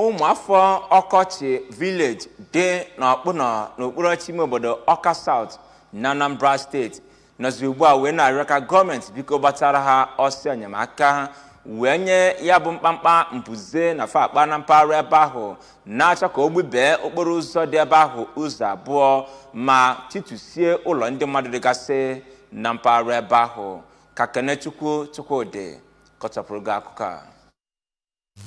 ụmụafọ ọkọchị village dị n'ọkpụnọ n'okpuru ọchịchị ime obodo ọka south na anambra steeti nọzi ugbu a wee na-arịọ ka gọọmenti biko gbatara ha ọsọ enyemaka wee nye ya bụ mkpamkpa mbuze na-akpa na mpaghara ebe ahụ na-achọ ka o gbubee okporo ụzọ dị ebe ahụ ụzọ abụọ ma titusie ụlọ ndị mmadụ dịgasị na mpaghara ebe ahụ ka kenechukwu chukwudị kọchapụrụ gị akụkọ a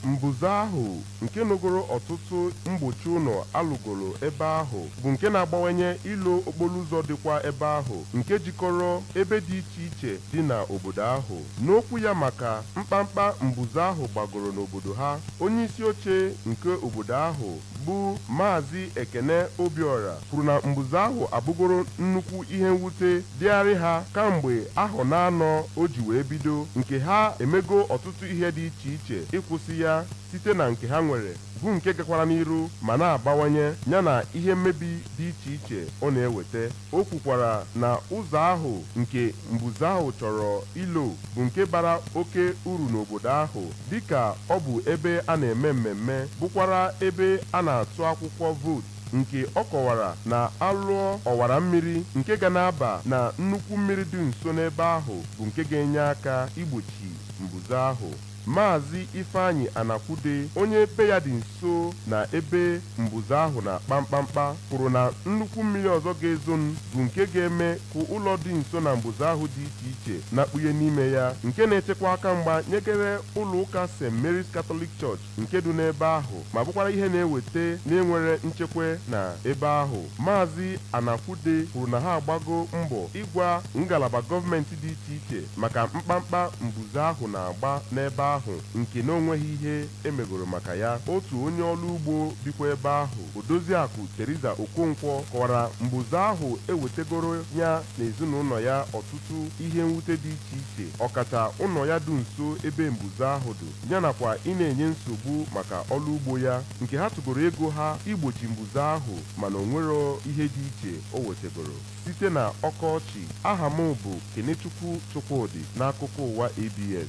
Mbuze ahụ nke nogoro ọtụtụ mgbochi ụlọ a lụgoro ebe ahụ bụ nke na-agbawanye ilo okporoụzọ dịkwa ebe ahụ nke jikọrọ ebe dị iche iche dị na obodo ahụ. N'okwu ya maka mkpamkpa mbuze ahụ gbagoro n'obodo ha, onyeisioche nke obodo ahụ bụ Maazị Ekene Obiora kwuru na mbuze ahụ abụgoro nnukwu ihe mwute dịarị ha kamgbe ahọ naanọ o ji wee bido nke ha emego ọtụtụ ihe dị iche iche ịkwụsị ya site na nke ha nwere bụ nke gakwara n'iru ma na-abawanye yana ihe mmebi dị iche iche ọ na-eweta o kwukwara na ụzọ ahụ nke mbuze ahụ chọrọ ilo bụ nke bara oke uru n'obodo ahụ dịka ọ bụ ebe a na-eme mmemme bụkwara ebe a na-atụ akwụkwọ vootu nke ọ kọwara na a lụọ ọwara mmiri nke ga na-aba na nnukwu mmiri dị nso n'ebe ahụ bụ nke ga-enye aka igbochi mbuze ahụ. Maazị Ifeanyi Anakwude, onye be ya dị nso na ebe mbuze ahụ na-akpa mkpamkpa, kwuru na nnukwu mmiri ọzọ ga-ezonụ bụ nke ga-eme ka ụlọ dị nso na mbuze ahụ dị iche iche nakpuye n'ime ya, nke na-echekwa aka mgba nyegere ụlọụka St. Mary's Catholic Church nke dụ n'ebe ahụ ma bụkwara ihe na-eweta na e nwero nchekwa na ebe ahụ. Maazị Anakwude kwuru na ha agbago mbọ ịgwa ngalaba gọọmenti dị iche iche maka mkpamkpa mbuze ahụ na-agba n'ebe ahụ nke na o nweghị ihe e megoro maka ya. Otu onye ọrụ ugbo bikwa ebe ahụ, Odoziakụ Theresa Okonkwo kọwara mbuze ahụ ewetegoro ya na ezinaụlọ ya ọtụtụ ihe mwute dị iche iche, ọkacha ụlọ ya dụ nso ebe mbuze ahụ dụ. ya nakwa ị na-enye nsogbu maka ọrụ ugbo ya nke ha tụgoro ego ha igbochi mbuze ahụ mana o nwero ihe dị iche o wetagoro. Site na Ọkọchị, aha m bụ Kenechukwu Chukwudị n'akụkọ ụwa ABS.